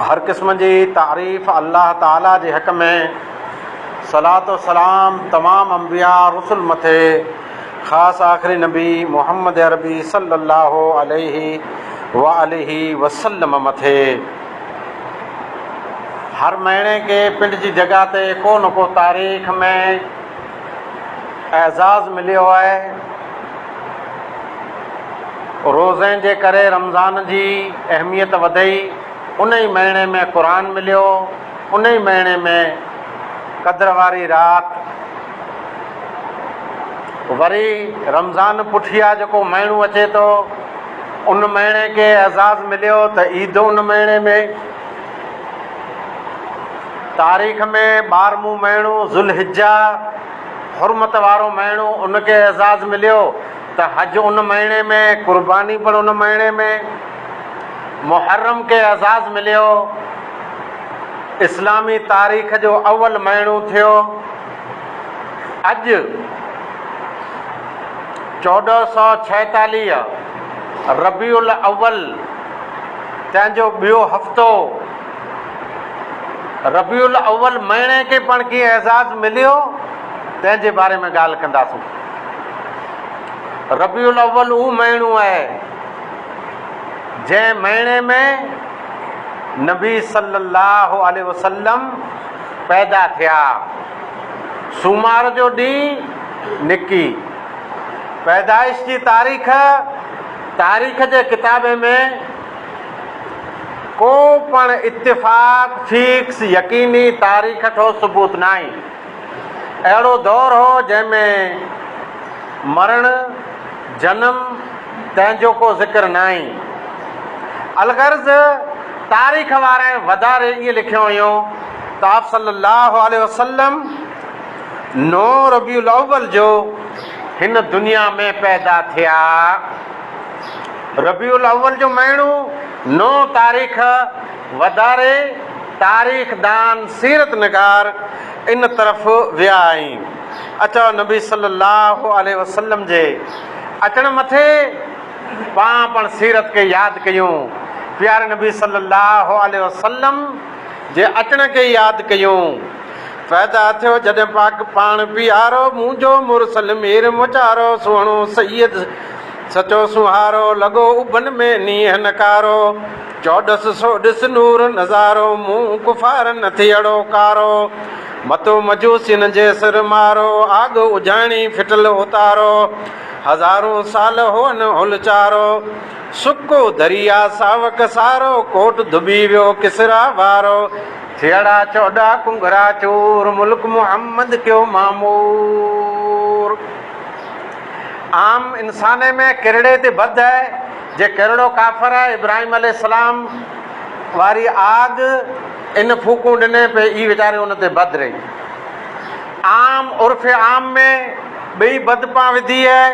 هر قسم جي تعريف الله تعاليٰ جي حق ۾، صلات و سلام تمام انبياء رسل مٿي خاص آخري نبي محمد عربي صلي الله عليه و آله وسلم مٿي. هر مهيني کي پنڊ جي جڳهه تي ڪو نه ڪو تاريخ ۾. اعزاز مليو آهي. روزي جي ڪري رمضان جي اهميت وڌي، ان ئي مهيني ۾ قرآن مليو، ان ئي مهيني ۾ قدر واري رات. وري رمضان پٺيان جيڪو مهينو اچي ٿو، ان مهيني کي اعزاز مليو ته عيد ان مهيني ۾. تاريخ ۾ ٻارهمون مهينو ذوالحجه، حرمت وارو مهينو، ان کي اعزاز مليو ته حج ان مهيني ۾، قرباني پڻ ان مهيني ۾. محرم کي اعزاز مليو، اسلامي تاريخ جو اول مهينو ٿيو. اڄ چوڏهن سؤ ڇاهيتاليهه ربيع الاول، تنهن جو ٻيو هفتو ربيع الاول مهيني کي پڻ ڪيئن اعزاز مليو تنهن جي باري ۾ ڳالهه ڪنداسون. ربيع الاول اهو مهينو آهي جنهن مهيني ۾ نبي صلي الله عليه وسلم پيدا ٿيا سومار جو ڏينهن نڪي پيدائش جي تاريخ تاريخ جي ڪتابي ۾ ڪو پڻ اتفاق، فيڪس، يقيني تاريخ ٺوس ثبوت ناهي. اهڙو دور هو جنهن ۾ مرڻ، جنم، تنهن جو ڪو ذڪر ناهي. الغرض تاريخ وارن وڌاري ائين لکيو هيو ته آپ صلّي اللّٰه عليه وسلّم نو ربيع الاول جو، هن دنيا ۾ پيدا ٿيا. ربيع الاول جو مهينو نو تاريخ وڌاري تاريخدان سيرت نگار ان طرف ويا ۽ اچوا نبي صلي الله عليه وسلم جي اچڻ مٿي پاڻ پڻ سيرت کي ياد ڪيون پياري نبي صلي الله عليه وسلم جي اچڻ کي ياد ڪيون. پيدا ٿيو جڏهن پاڪ پاڻ پيارو، منهنجو مرسل مير مچارو، سهڻو سيد سچو سونهارو، لڳو اڀن ۾ نينهن نڪارو، چوڏس سو ڏس نور نظارو، منهن ڪفارن نه ٿي اڙو ڪارو، متو مجوسين جي سر مارو، آڳ اجهاڻي ڦٽل اتارو، هزارون سال هئن هل چارو. سڪو دريا ساوڪ سارو، ڪوٽ ڌٻي ويو ڪسريٰ وارو. ٿيئڙا چوڏا ڪنگرا چور، ملڪ محمد ڪيو معمور. عام انسان ۾ ڪرڙي تي بد آهي، جي ڪرڙو ڪافر آهي، ابراهيم عليه السلام واري آڳ ان ڦوڪون ڏني پئي اي ويچاري ان تي بد رهي. عام عرف عام ۾ ٻئي بد پان وڌي آهي.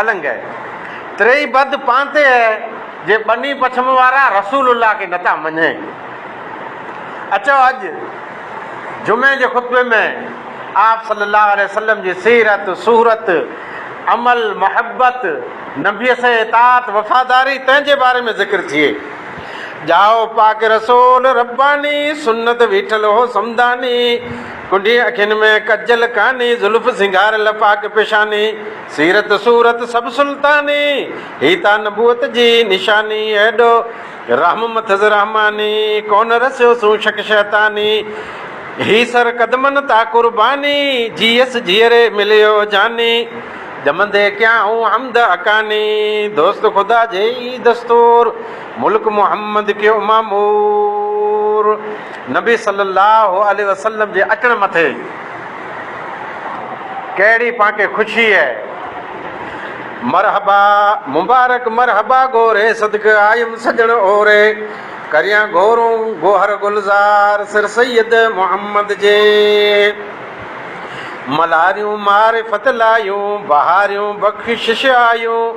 النگ اي تريئي بد پانتي اي جي ٻني پڇم وارا رسول الله کي نٿا مڃين. اچو اڄ جمعي جي خطبي ۾ آپ صلي الله عليه وسلم جي سيرت، صورت، عمل، محبت، نبي سين اطاعت، وفاداري تنهن جي باري ۾ ذڪر ٿئي. ڄائو پاڪ رسول رباني، سنت ويٺل هو سمداني. ڪنڊين اکين ۾ ڪجل ڪاني، زلف سينگاريل پاڪ پيشاني، سيرت صورت سڀ سلطاني، هي تان نبوت جي نشاني، ايڏو رحم مٿس رحماني، ڪونه رسيو سون شڪ شيطاني، هي سر قدمن تان قرباني، جيئس جيئري مليو جاني، ڄمندي ڪيائون حمد حقاني، دوست خدا جي ئي دستور. ملڪ محمد کي امامور نبي صلي الله عليه وسلم جي اچڻ مٿي ڪهڙي پاڪي خوشي اهي مرحبا مبارڪ مرحبا گهوري صدق آيم سڄڻ اوري ڪريان گهورون گوهر گلزار سر سيد محمد جي ملاريون معرفت لايون بهاريون بخشش آيون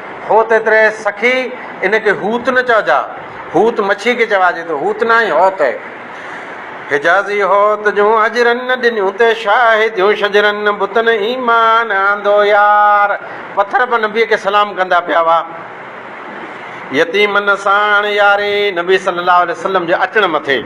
هو ته تري سخي، ان کي هوت نه چئجا. هوت مڇي کي چواجي ٿو، هوت نه آهي، هوت آهي. حجازي هوت جون هجرن نه ڏنيون تي شاهديون شجرن نه بتن ايمان آندو يار. پٿر به نبيء کي سلام ڪندا پيا هئا. يتيمن ساڻ ياري نبي صلي الله عليه وسلم جي اچڻ مٿي.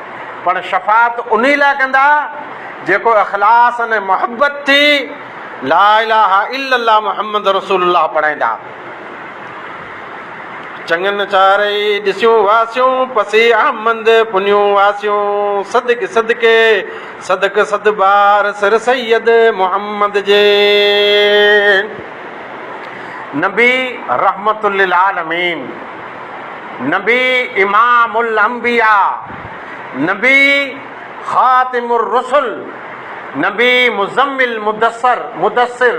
پر شفاعت انهي لاء ڪندا جيڪو اخلاص ۽ محبت ٿي لا اله الا الله محمد رسول الله پڙهائيندا. چڱن چارئي ڏسيون واسيون پسي احمد پنيون واسيون صدقي صدقي صدق صد بار سر سيد محمد جي. نبي رحمت للعالمين. نبي امام الانبياء، نبي خاتم الرسل، نبي مزمل مدثر، مدثر،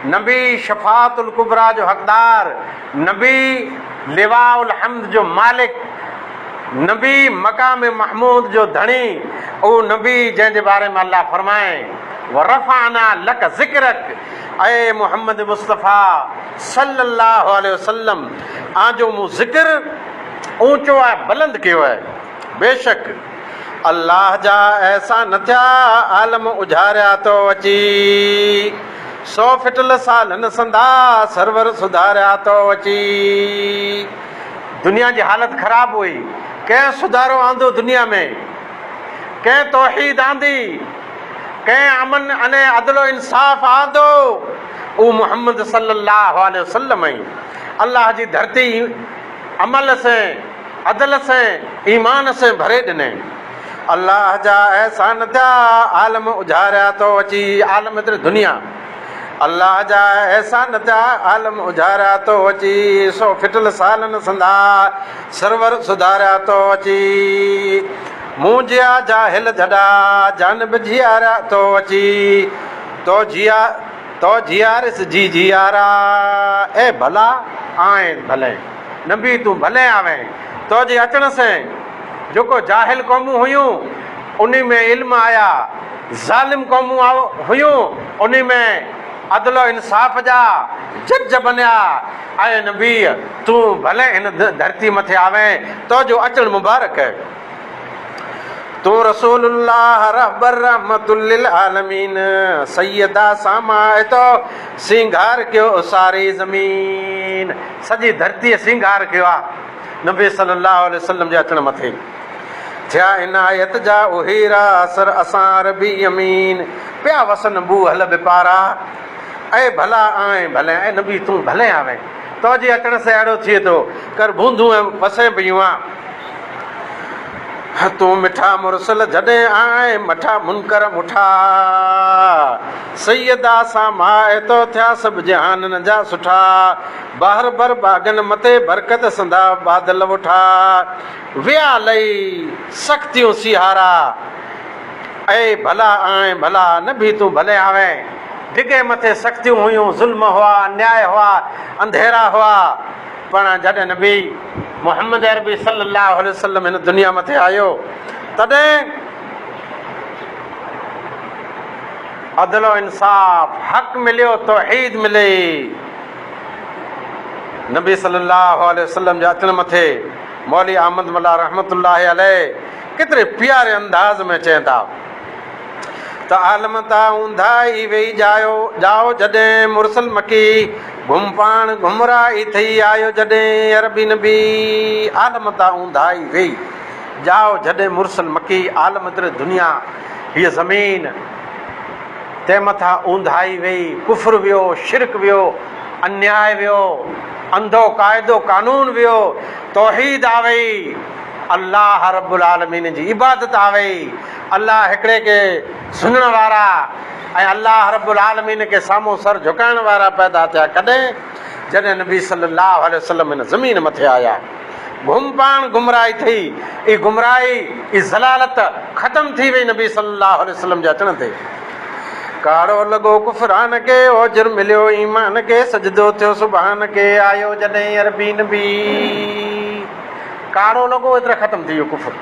نبي شفاعت الڪبريٰ جو حقدار، نبي لواء الحمد جو مالڪ، نبي مقام محمود جو ڌڻي، اهو نبي جنهن جي باري ۾ الله فرمائي، ورفعنا لڪ ذڪرڪ، اي محمد مصطفيٰ! صلّي اللّٰه عليه وسلّم آن جو مون ذڪر اوچو ۽ بلند ڪيو آهي. بيشڪ الله جا احسان نه ٿيا عالم اجهاريا تو اچي. سو ڦٽل سالن سندا سرور سڌاريا تو اچي. دنيا جي حالت خراب هئي، ڪنهن سڌارو آندو دنيا ۾، ڪنهن توحيد آندي. ڪنهن امن ۽ عدل و انصاف آندو، اهو محمد صلي الله عليه وسلم ۽ الله جي ڌرتي عمل سين، عدل سين، ايمان سين ڀري ڏني. الله جا احسان ٿيا، عالم اجهاريا ٿو اچي عالم در دنيا. الله جا احسان ٿيا، عالم اجهاريا ٿو اچي سو ڦٽل سالن سندا سرور سڌاريا ٿو اچي. مون جيا جاهل جھڏا، جانب جياريا تو اچي، تو جيا تو جياريس جي جيارا، اي ڀلا آئين ڀلين، نبي تون ڀلين آوين، تو جي اچڻ سين جيڪو جاهل قومون هيون، انهي ۾ علم آيا، ظالم قومون آ هيون، انهي ۾ عدل و انصاف جا جج بنيا، اي نبي تون ڀلين هن ڌرتي مٿي آوين، تو جو اچڻ مبارڪ. تون رسول الله رهبر رحمت للعالمين سيدا ساما آهي تو سينگار ڪيو ساري زمين سڄي ڌرتي سينگار ڪيو آ نبي صلي الله عليه وسلم جي اچڻ مٿي ٿيا عنايت جا اهيرا اثر اسان ربي يمين پيا وسن بو هل بپارا اي ڀلا آئين ڀلي اي نبي تون ڀلي آوين تو جي اچڻ سي اڙو ٿئي تو ڪر بوندون وسين پيون آ تون مٺا مرسل جڏهن آئين مٺا منڪر مٺا سيدا سان ماء تو ٿيا سڀ جهانن جا سٺا بهر بر باغن مٿي برڪت سندا بادل وٺا ويا لئي سختيون سيهارا اي ڀلا آئين ڀلا نه به تون ڀلي آوين ڊگهي مٿي سختيون هيون ظلم هئا انياء هئا انڌيرا هئا پڻ جڏهن نبي محمد عربي صلي الله عليه وسلم هن دنيا مٿي آيو تڏهن عدل و انصاف حق مليو توحيد ملي نبي صلي الله عليه وسلم جي اچڻ مٿي مولوي احمد ملا رحمت الله عليه ڪيتري پياري انداز ۾ چين ٿا ته عالم تاء اونڌا ئي ويهي ڄائو ڄائو جڏهن مرسل مڪي گهم پاڻ گهم را ئي ٿئي آيو جڏهن عربي نبي عالم تاء اونڌا ئي ويهي ڄائو جڏهن مرسل مڪي عالم تر دنيا هيء زمين تنهن مٿا اونڌا ئي ويهي ڪفر ويو شرڪ ويو انياء ويو انڌو قاعدو قانون ويو توحيد آ ويئي الله رب العالمين جي عبادت آ ويئي الله هڪڙي کي سڃڻ وارا ۽ الله رب العالمين کي سامهون سر جهڪائڻ وارا پيدا ٿيا ڪڏهن؟ جڏهن نبي صلي الله عليه وسلم هن زمين مٿي آيا. گم پاڻ گمراهي ٿي، اي گمراهي، اي ضلالت ختم ٿي وئي نبي صلي الله عليه وسلم جي اچڻ تي. ڪاڙهو لڳو ڪفران کي، اوجر مليو ايمان کي، سجدو ٿيو سبحان کي، آيو جڏهن عربي نبي. ڪاڙهو لڳو ايتري ختم ٿي ويو ڪفر.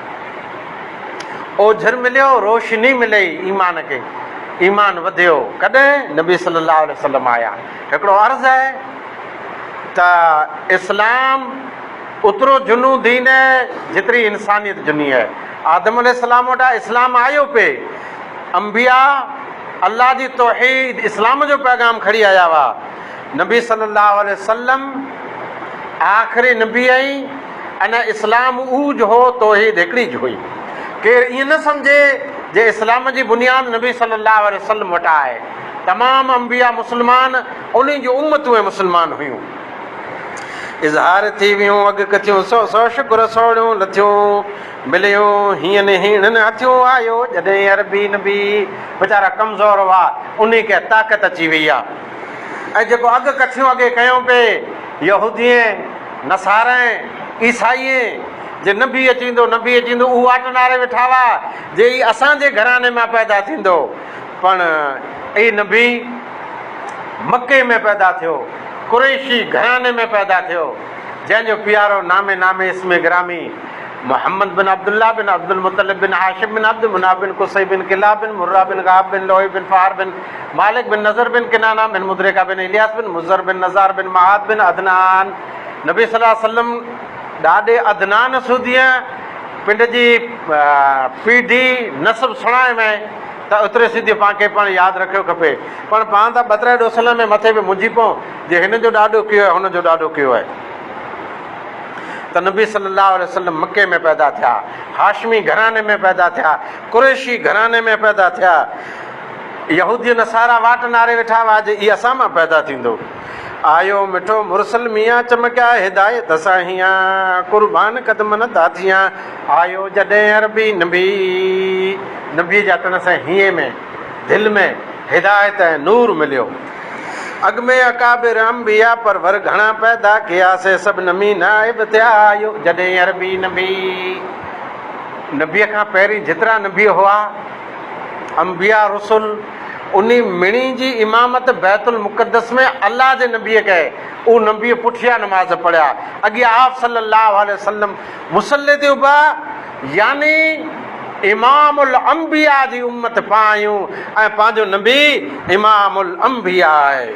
اوجهر مليو، روشني ملي ايمان کي، ايمان وڌيو، ڪڏهن؟ نبي صلي الله عليه وسلم آيا. هڪڙو عرض آهي ته اسلام اوترو جنو دين آهي جيتري انسانيت جني آهي. آدم عليه السلام وٽان اسلام آيو پئي، انبياء الله جي توحيد اسلام جو پيغام کڻي آيا هئا، نبي صلي الله عليه وسلم آخري نبي ۽ ان اسلام اهو جهو توحيد هڪڙي جهوئي ڪير ائين نه سمجهي جي اسلام جي بنياد نبي صلي الله عليه وسلم وٽان آهي تمام انبياء مسلمان انهن جون امتون ۽ مسلمان هيون اظهار ٿي ويون اڳ ڪٿيون سو سو شڪر سوڙيون لٿيون مليون هين هيڻن هٿيون آيو جڏهن عربي نبي ويچارا ڪمزور هئا انهي کي طاقت اچي وئي آ. ۽ جيڪو اڳ ڪٿيون اڳي ڪيون پئي، يهودين، نصارين، عيسائين، جي نبي اچي ويندو، نبي اچي ويندو، اهو واٽ نهاري ويٺا هئا جي هي اسان جي گهراڻي مان پيدا ٿيندو، پڻ اي نبي مڪي ۾ پيدا ٿيو، قريشي گهراڻي ۾ پيدا ٿيو، جنهن جو پيارو نام نام اسم گرامي محمد بن عبد الله بن عبد المطلب بن هاشم بن عبد مناف بن قصي بن ڪلاب بن مرة بن غاب بن لؤي بن فهر بن مالڪ بن نضر بن ڪنانه بن مدرڪه بن الياس بن مضر بن نزار بن معاذ بن عدنان نبي صلّي اللّٰه عليه وسلّم ڏاڏي عدنان سوديء پنڊ جي پيڍي، نسب، سڻائي ۾ ته ايتري سڌيء پان کي پڻ ياد رکيو کپي. پڻ پان ته ٻترهن ڏوسلن ۾ مٿي به منجهي پئون جي هن جو ڏاڏو ڪيو هن جو ڏاڏو ڪيو آهي. ته نبي صلّي اللّٰه عليه وسلّم مڪي ۾ پيدا ٿيا، هاشمي گهراڻي ۾ پيدا ٿيا، قريشي گهراڻي ۾ پيدا ٿيا، يهودي نصارا واٽ ناري ويٺا هئا جو هي اسان مان پيدا ٿيندو. آيو مٺو مرسل ميان چمڪيا هدايت سان هيان قربان قدمن تان ٿيان آيو جڏهن عربي نبي. نبيء جي اچڻ سان هينء ۾ دل ۾ هدايت ۽ نور مليو. اڳ ۾ اڪابر انبياء پرور گهڻا پيدا ڪيا سي سڀ نمي نائب ٿيا آيو جڏهن عربي نبي. نبيء کان پهرين جيترا نبي هئا. انبياء رسول انھي مڻي جي امامت بيت المقدس ۾ الله جي نبي ڪئي اھو نبي پٺيان نماز پڙھيا اڳيان آپ صلي الله عليه وسلم مصلي تي اڀا يعني امام الانبياء جي امت پان آھيون ۽ پنھنجو نبي امام الانبياء آھي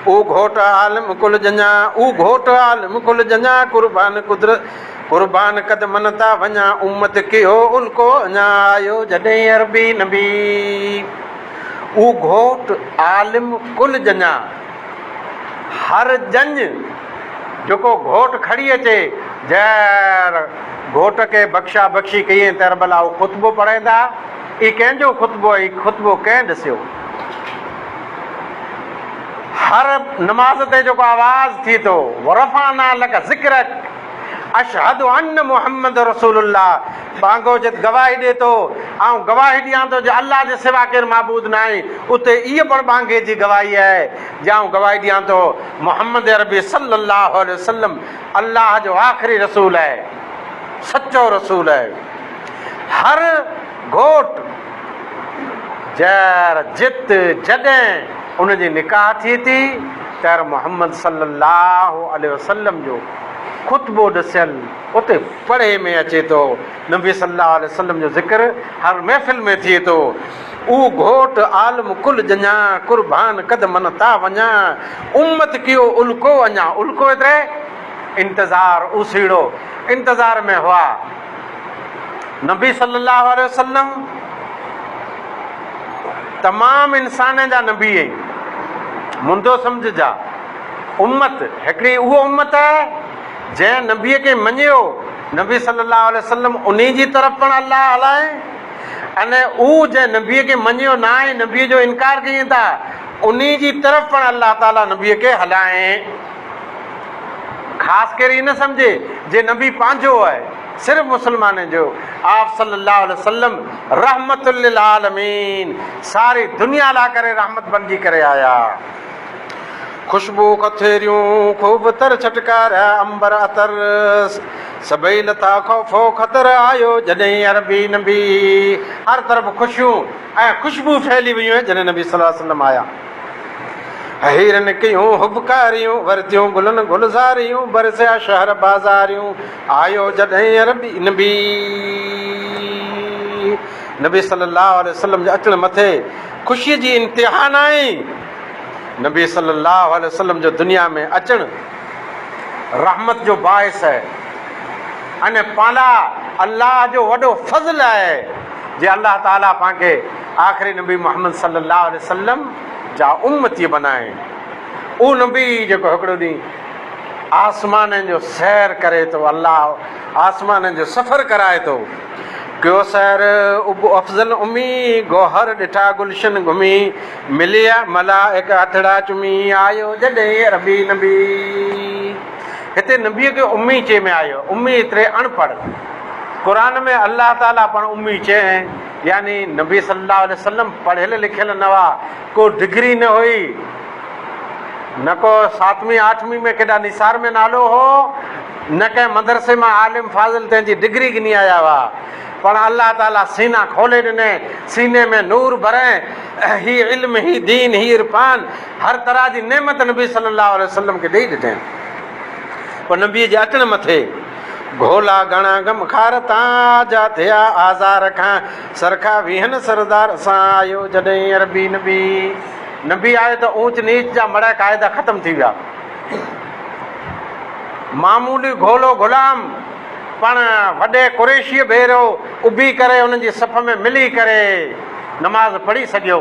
او گھوٽ عالم ڪل جنھن او گھوٽ عالم ڪل جنھن قربان قدرت قربان قد من تان وڃان امت ڪيو ان ڪو اڃان آيو جڏهين عربي نبي او گهوٽ عالم ڪل ڄڃان هر ڄڃ جيڪو گهوٽ کڙي اچي جهر گهوٽ کي بخشا بخشي ڪيئين ته عرب لاء او خطبو پڙهيندا اي ڪنهن جو خطبو اي خطبو ڪنهن ڏسيو هر نماز تي جيڪو آواز ٿي ٿو ورفعنا لڪ ذڪرڪ اشھد ان محمد رسول الله ٻانگوجت گواهي ڏي ٿو، آئون گواهي ڏيان ٿو جو الله جي سوا ڪير معبود ناهي، اتي ايء پڻ ٻانگي جي گواهي آهي، جي آئون گواهي ڏيان ٿو محمد عربي صلّي اللّٰه عليه وسلّم الله جو آخري رسول آهي، سچو رسول آهي. هر گهوٽ جر جت جڏهن ان جي نڪاح ٿئي ٿي تر محمد صلي الله عليه وسلم جو خطبو ڏسيل اتي پڙهي ۾ اچي ٿو نبي صلي الله عليه وسلم جو ذڪر هر محفل ۾ ٿئي ٿو او گهوٽ عالم ڪل ڄڃا قربان قد من تا وڃا امت ڪيو الڪو اڃا الڪو ايتري انتظار اوسيڙو انتظار ۾ هئا نبي صلّي اللّٰه عليه وسلّم تمام انسانن جا نبي ۽ منڌو سمجھ جا امّت هڪڙي اهو امّت آهي جنهن نبي کي مڃيو نبي صلّي اللّٰه عليه وسلّم انهي جي طرف پڻ الله هلائي ان اهو جنهن نبي کي مڃيو نه آهي نبي جو انڪار ڪيئن ٿا انهي جي طرف پڻ الله تعالٰي نبي کي هلائي خاص ڪير هي نه سمجهي جي نبي پنهنجو آهي صرف مسلمانن جو آپ صلي الله عليه وسلم رحمت للعالمين ساري دنيا لا ڪري رحمت بنجي ڪري آيا خوشبو کٿيريون خوب تر ڇٽڪارا امبر عطر سڀئي لتا خوف و خطر آيو جڏهن عربي نبي هر طرف خوشيون ۽ خوشبو ڦهلي ويون جڏهن نبي صلي الله عليه وسلم آيا هيرن ڪيون هٻڪاريون، ورتيون گلن گلزاريون، برسيا شهر بازاريون، آيو جڏهن عربي نبي نبي صلي الله عليه وسلم جي اچڻ مٿي خوشي جي انتها ناهي، نبي صلي الله عليه وسلم جو دنيا ۾ اچڻ رحمت جو باعث آهي ان پالا الله جو وڏو فضل آهي جي الله تعالي پانکي آخري نبي محمد صلّي اللّٰه عليه وسلّم جا امّتيّ بنائين. اهو نبي جيڪو هڪڙو ڏينهن آسمانن جو سير ڪري ٿو، الله آسمانن جو سفر ڪرائي ٿو، ڪيو سير ابو افضل امّي، گوهر ڏٺا گلشن گهمي، ملي ملائڪ هٿڙا چمي، آيو جڏهن عربي نبي. هتي نبي کي امّي چئي ۾ آيو، امّي ايتري اڻپڙهه، قرآن ۾ الله تعالٰي پاڻ امّي چئي ۽. يعني نبي صلي الله عليه وسلم پڙهيل لکيل نه هئا، ڪو ڊگري نه هئي، نه ڪو ساتوين آٺوين ۾ ڪيڏا نثار ۾ نالو هو، نه ڪنهن مدرسي مان عالم فاضل تنهن جي ڊگري گهني آيا هئا، پڻ الله تعاليٰ سينا کولي ڏنئين، سيني ۾ نور ڀرئين، هي علم، هي دين، هي عرفان، هر طرح جي نعمت نبي صلي الله عليه وسلم کي ڏئي ڏنين. پوء نبيء جي اچڻ مٿي. گهولا گهڻا غم خار تان، آجا ٿيا آزار کان. سرکا ويهن سردار سان، آيو جڏهن عربي نبي. نبي آيو ته اوچ نيچ جا مڙهه قاعدا ختم ٿي ويا. معمولي گهولو غلام پڻ وڏي قريشيء ڀيرو اڀي ڪري انهن جي صف ۾ ملي ڪري نماز پڙهي سگهيو.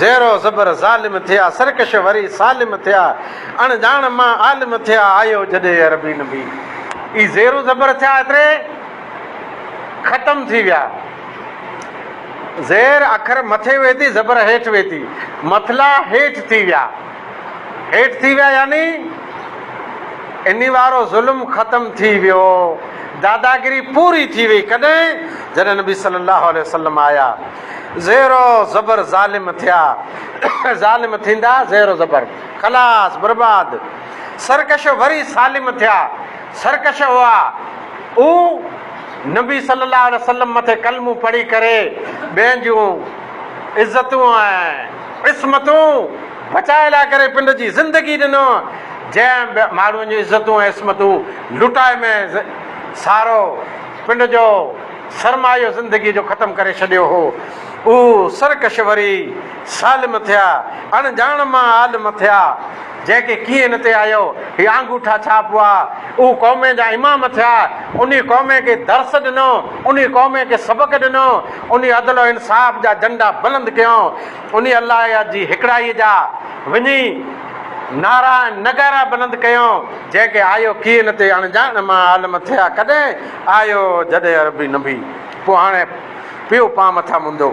زير و زبر ظالم ٿيا، سرڪش وري سالم ٿيا، اڻ ڄاڻ مان عالم ٿيا، آيو جڏهن عربي نبي. اي زير و زبر ٿيا ايتري ختم ٿي ويا. زير اکر مٿي وئي ٿي زبر هيٺ وئي ٿي مٿلا هيٺ ٿي ويا هيٺ ٿي ويا يعني اني وارو ظلم ختم ٿي ويو داداگري پوري ٿي وئي ڪڏهن جڏهن نبي صلي الله عليه وسلم آيا زير و زبر ظالم ٿيا ظالم ٿيندا زير و زبر خلاص برباد سرڪش وري سالم ٿيا سرڪش هئا او نبي صلي الله عليه وسلم مٿي ڪلمون پڙهي ڪري ٻين جون عزتون ۽ عصمتون بچائي لاء ڪري پنڊ جي زندگي ڏنو جنهن ماڻهن جون عزتون ۽ عصمتون لٽائي ۾ سارو پنڊ جو سرمايو زندگيء جو ختم ڪري ڇڏيو هو. اهو سرڪش وري سالم ٿيا، اڻ ڄاڻ مان عالم ٿيا. جنهن کي ڪيئن هن تي آيو، هي آنگوٺا ڇاپ هئا، اهو قومين جا امام ٿيا، انهي قومين کي درس ڏنو، انهي قومين کي سبق ڏنو، انهي عدل و انصاف جا جهنڊا بلند ڪيائون، انهي الله جي هڪڙائيء جا وڃي نعرا ۽ نغارا بلند ڪيائون، جنهن کي آيو ڪيئن هن تي اڻ ڄاڻ مان عالم ٿيا. ڪڏهن؟ آيو جڏهن عربي نبي، پوء هاڻي پيو پان مٿان مندو.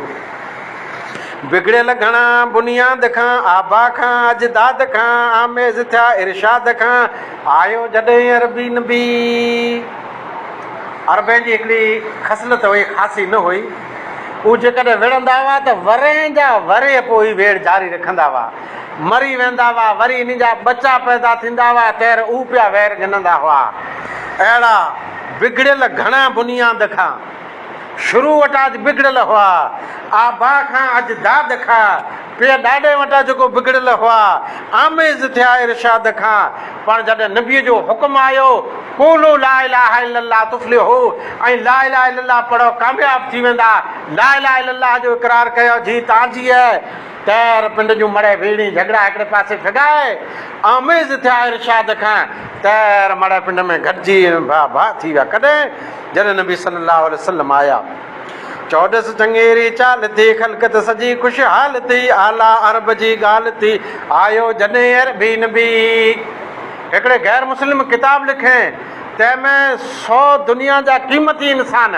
بگڙيل گهڻا بنياد کان، آبا کان اجداد کان، آميز ٿيا ارشاد کان، آيو جڏهن عربي نبي. عربين جي هڪڙي خصلت هئي، خاصي نه هئي، هو جيڪڏهن وڙهندا هئا ته ورهين جا ورهيه پوء هي ويڙهه جاري رکندا هئا. مري ويندا هئا، وري انهن جا ٻچا پيدا ٿيندا هئا، تير اهو پيا وير گهنندا هئا. اهڙا بگڙيل گهڻا بنياد کان شروع وٽان اڄ بگڙيل هئا، آبا کان اڄ داد کان پيء ڏاڏي وٽان جيڪو بگڙيل هئا، آميز ٿيا ارشاد کان، پر جڏهن نبيء جو حڪم آيو، قولوا لا اله الا الله تفلحو ۽ لا اله الا الله پڙهو ڪامياب ٿي ويندا، لا اله الا الله جو اقرار ڪيو جي تان جيء. تير پنڊ جون مڙهه ويڙهين جهڳڙا هڪڙي پاسي ڦڳائي آميز ٿيا ارشاد کان تير مڙهه پنڊ ۾ گڏجي ڀا ڀا ٿي ويا ڪڏهن جڏهن نبي صلي الله عليه وسلم آيا چوڏس چڱيري چال ٿي خلقت سڄي خوشحال ٿي اعليٰ عرب جي ڳالهه ٿي آيو جڏهن عربي نبي هڪڙي غير مسلم ڪتاب لکين تنهن ۾ سو دنيا جا قيمتي انسان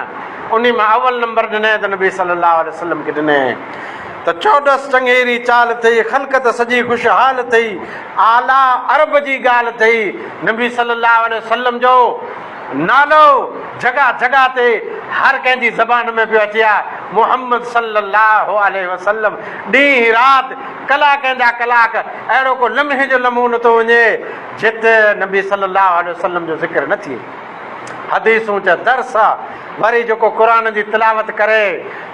انهي مان اول نمبر ڏني ته نبي صلي الله عليه وسلم کي ڏني ته چوڏس چنگيري چال ٿئي، خلقت سڄي خوشحال ٿئي، اعليٰ عرب جي ڳالهه ٿئي، نبي صلّي اللّٰه عليه وسلّم جو نالو جڳهه جڳهه تي هر ڪنهن جي زبان ۾ پيو اچي ها، محمّد صلّي اللّٰه عليه وسلّم ڏينهن رات ڪلاڪن جا ڪلاڪ اهڙو ڪو لمحي جو لمحو نٿو وڃي جت نبي صلّي اللّٰه عليه وسلّم جو ذڪر نه ٿئي. حديثون جا درس وري جيڪو قرآن جي تلاوت ڪري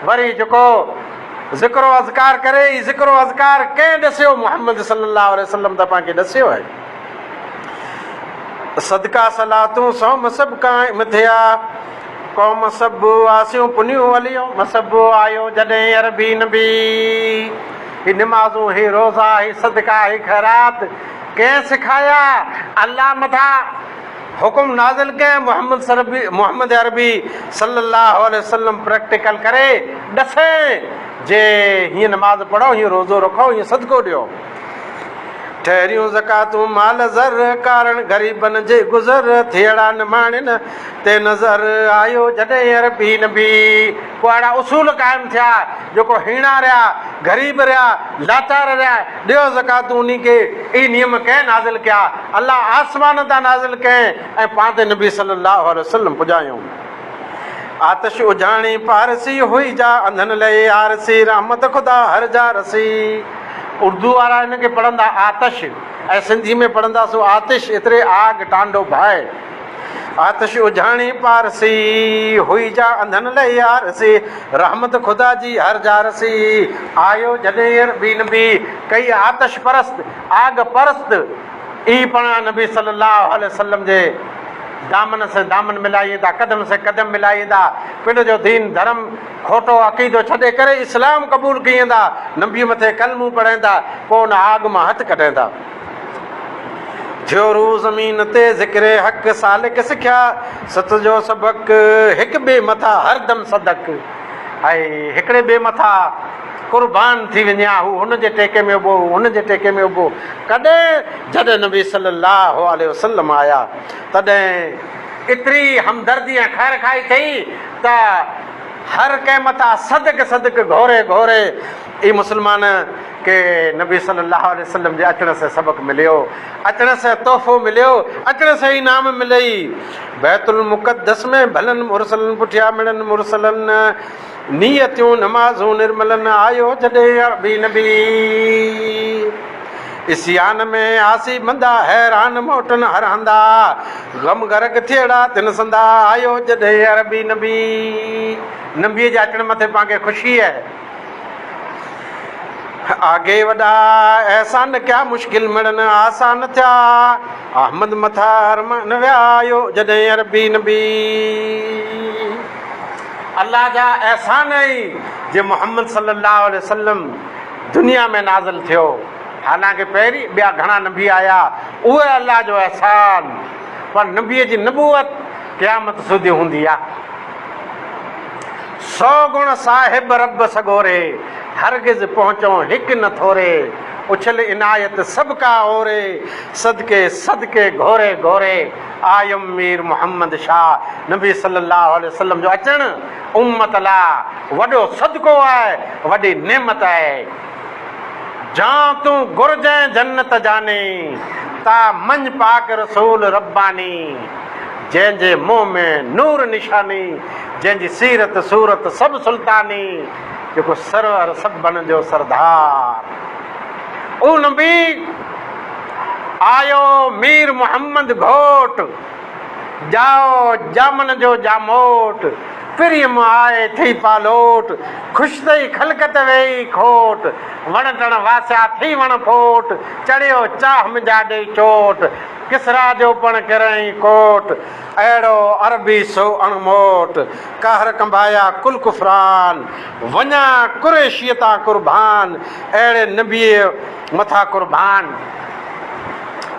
وري جيڪو ذڪر و اذڪار ڪري هي ذڪر و اذڪار ڪنهن ڏسيو محمد صلي الله عليه وسلم ته پنهنکي ڏسيو آهي صدقا صلاتون سو مسب کان مٿيا قوم سب آسيون پنيون وليو مسب آيو جڏهن عربي نبي هي نمازون هي روزا هي صدقا هي خيرات ڪنهن سکايا الله مٿا حڪم نازل ڪيائين محمد سربي محمد عربي صلي الله عليه وسلم پريڪٽيڪل ڪري ڏسين جي هيئن نماز پڙهو هيئن روزو رکو هيئن صدقو ڏيو ٺهريون زڪاتون مال زر ڪارڻ غريبن جي گذر ٿيڙا نماڻين تي نظر آيو جڏهن عربي نبي ڪو اهڙا اصول قائم ٿيا جيڪو هيڻا رهيا، غريب رهيا، لاچار رهيا، ڏيو زڪوات انهي کي، اهي نيم ڪنهن نازل ڪيا؟ الله آسمان تان نازل ڪيائين ۽ پاڻ تي نبي صلي الله عليه وسلم پڄايائون. آتش اجهاڻي پارسي هئي جا انڌن لئي آرسي رحمت خدا هر جا رسي. اردو وارا هن کي پڙهندا آتش ۽ سنڌي ۾ پڙهنداسون آتش ايتري آگ ٽانڊو ڀائي. آتش اجهاڻي پارسي، هئي جا انڌن لئه آرسي، رحمت خدا جي هر جارسي، آيو جڏهن عربي نبي، ڪئي آتش پرست، آگ پرست، اي پاڻ نبي صلي الله عليه وسلم جي دامن سين دامن ملائين ٿا، قدم سين قدم ملائين ٿا، پنڊ جو دين ڌرم کوٽو عقيدو ڇڏي ڪري اسلام قبول ڪيئن ٿا، نبي مٿي ڪلمون پڙهين ٿا، پوء ان آگ مان هٿ ڪڍين ٿا. ٿيو روح زمين تي ذڪر حق سالڪ سکيا ست جو سبق هڪ ٻئي مٿا هر دم صدق اي هڪڙي ٻئي مٿا قربان ٿي وڃي ها هو هن جي ٽيڪي ۾ ابو هن جي ٽيڪي ۾ ابو ڪڏهن جڏهن نبي صلي الله عليه وسلم آيا تڏهن ايتري همدردي ۽ خير خائي ٿي ته هر ڪنهن مٿا صدق صدق گهوري گهوري اي مسلمان! ڪي نبي صلّي اللّٰه عليه وسلّم جي اچڻ سين سبق مليو، اچڻ سين تحفو مليو، اچڻ سين انعام ملئي. بيت المقدّس ۾ ڀلن مرسلن پٺيان مڙن مرسلن، نيتيون نمازون نرملن، آيو جڏهن عربي نبي. عصيان ۾ آسي بندا، حيران موٽن هر هندا، غم غرق ٿيئڙا ٿين سندا، آيو جڏهن عربي نبي. نبيء جي اچڻ مٿي پاڻ کي خوشي اهي. آگهي وڏا احسان ڪيا مشڪل مڙن آسان ٿيا احمد مٿا ارمان ويا آيو جڏهن عربي نبي الله جا احسان آهي جي محمد صلي الله عليه وسلم دنيا ۾ نازل ٿيو حالانڪه پهرين ٻيا گهڻا نبي آيا اهو الله جو احسان پر نبي جي نبوت قيامت سودي هوندي آهي سو گڻ صاحب رب سڳوري، هرگز پهچئون هڪ نه ٿوري، اڇل عنايت سڀ ڪا اوري، صدقي صدقي گهوري گهوري، آيم مير محمد شاهه، نبي صلي الله عليه وسلم جو اچڻ امت لا وڏو صدقو آهي، وڏي نعمت آهي. جان تون گهرجين جنت جاني، تا مڃ پاڪ رسول رباني، جنهن جي منهن ۾ نور نشاني، جنهن جي سيرت صورت سڀ سلطاني، جيڪو سرور سڀن جو سردار. اهو نبي آيو مير محمد گهوٽ، ڄائو ڄامن جو ڄاموٽ. پريم آئي ٿئي پالوٽ، خوش ٿئي خلقت ويئي کوٽ، وڻ ٽڻ واسيا ٿئي وڻ ڦوٽ، چڙهيو چاهه منجها ڏيئي چوٽ، ڪسريٰ جو پڻ ڪريائين ڪوٽ، اهڙو عربي سو اڻ موٽ، قهر ڪنبايا ڪل ڪفران، وڃان قريشيء تان قربان، اهڙي نبيء مٿان قربان.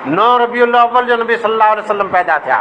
نو ربيع الاول جو نبي صلي الله عليه وسلم پيدا ٿيا.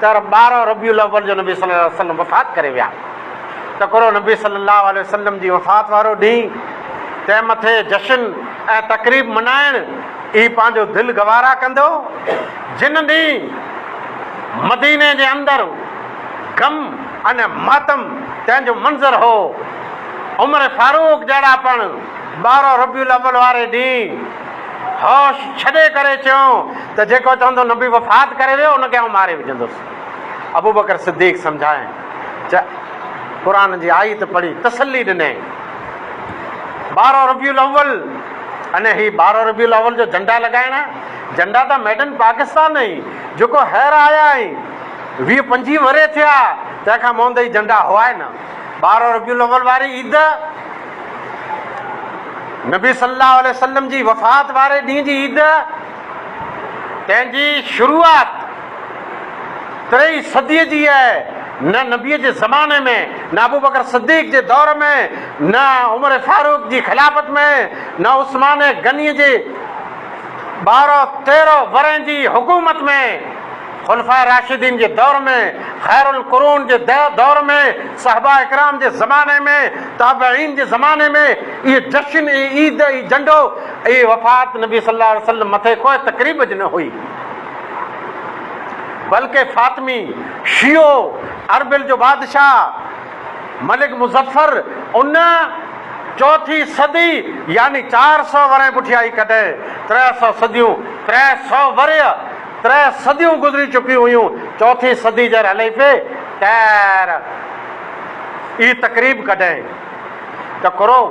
تر ٻارهن ربيع الاول جو نبي صلي الله عليه وسلم وفات ڪري ويا. تڪرو نبي صلي الله عليه وسلم جي وفات وارو ڏينهن تنهن مٿي جشن ۽ تقريب ملهائڻ ئي پنهنجو دل گوارا ڪندو. جن ڏينهن مديني جي اندر غم ۽ ماتم تنهن جو منظر هو. عمر فاروق جهڙا پڻ ٻارهن ربيع الاول واري ڏينهن. هوش ڇڏي ڪري چيو ته جيڪو چوندو نبي وفات ڪري ويو ان کي آئون ماري وجهندس. ابوبڪر صديق سمجهايائين چه قرآن جي آيت پڙهي تسلي ڏنائين. ٻارهن ربيع الاول اني هي ٻارهن ربيع الاول جو جهنڊا لڳائڻ جهنڊا ته ميڊ ان پاڪستان ۽ جيڪو هير آيا ۽ ويهه پنجويهه ورهيه ٿيا تنهن کان مهندئي جهنڊا هئائي نه ٻارهن ربيع الاول واري عيد نبي صلي الله عليه وسلم جي وفات واري ڏينهن جي عيد تنهن جي شروعات تري صديء جي آهي نه نبيء جي زماني ۾ نه ابوبڪر صديق جي دور ۾ نه عمر فاروق جي خلافت ۾ نه عثمان غني جي ٻارهن تيرهن ورهين جي حڪومت ۾ خلفاء راشدين جي دور ۾، خير القرون جي دور ۾، صحباء ڪرام جي زماني ۾، تابعين جي زماني ۾، اهي جشن، اهي عيد، اهي جنڊو، اهي وفات نبي صلي الله عليه وسلم مٿي ڪوء تقريب جي نه هئي. بلڪه فاطمي، شيعو، اربيل جو بادشاهه، ملڪ مظفر، ان، چوٿي صدي، يعني چار سؤ ورهين پٺيائي ڪڍي، ترهه سؤ صديون، ترهه سؤ ورهيه، ترهه صديون گذري چڪيون هيون، چوٿين صدي جي حليفي ٽائر ئي تقريب ڪڍين ته ڪرو،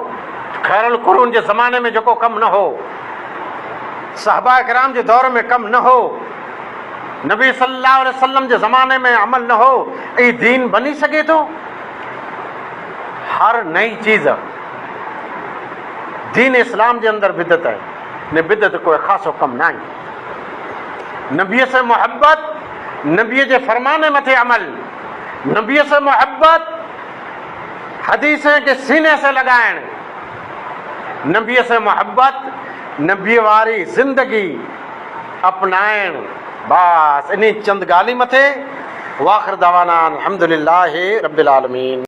خيرالقرون جي زماني ۾ جيڪو ڪم نه هو، صحابه ڪرام جي دور ۾ ڪم نه هو، نبي صلي الله عليه وسلم جي زماني ۾ عمل نه هو، اي دين بني سگهي ٿو؟ هر نئين چيز دين اسلام جي اندر بدعت آهي، نه بدعت ڪوئي خاصو ڪم ناهي. نبيء سان محبت، نبيء جي فرمان مٿي عمل، نبيء سان محبت، حديثن کي سيني سان لڳائڻ، نبيء سان محبت، نبيء واري زندگي اپنائڻ، بس انهي چند ڳالهين مٿي، واخر دعوانا ان الحمدلله رب العالمين.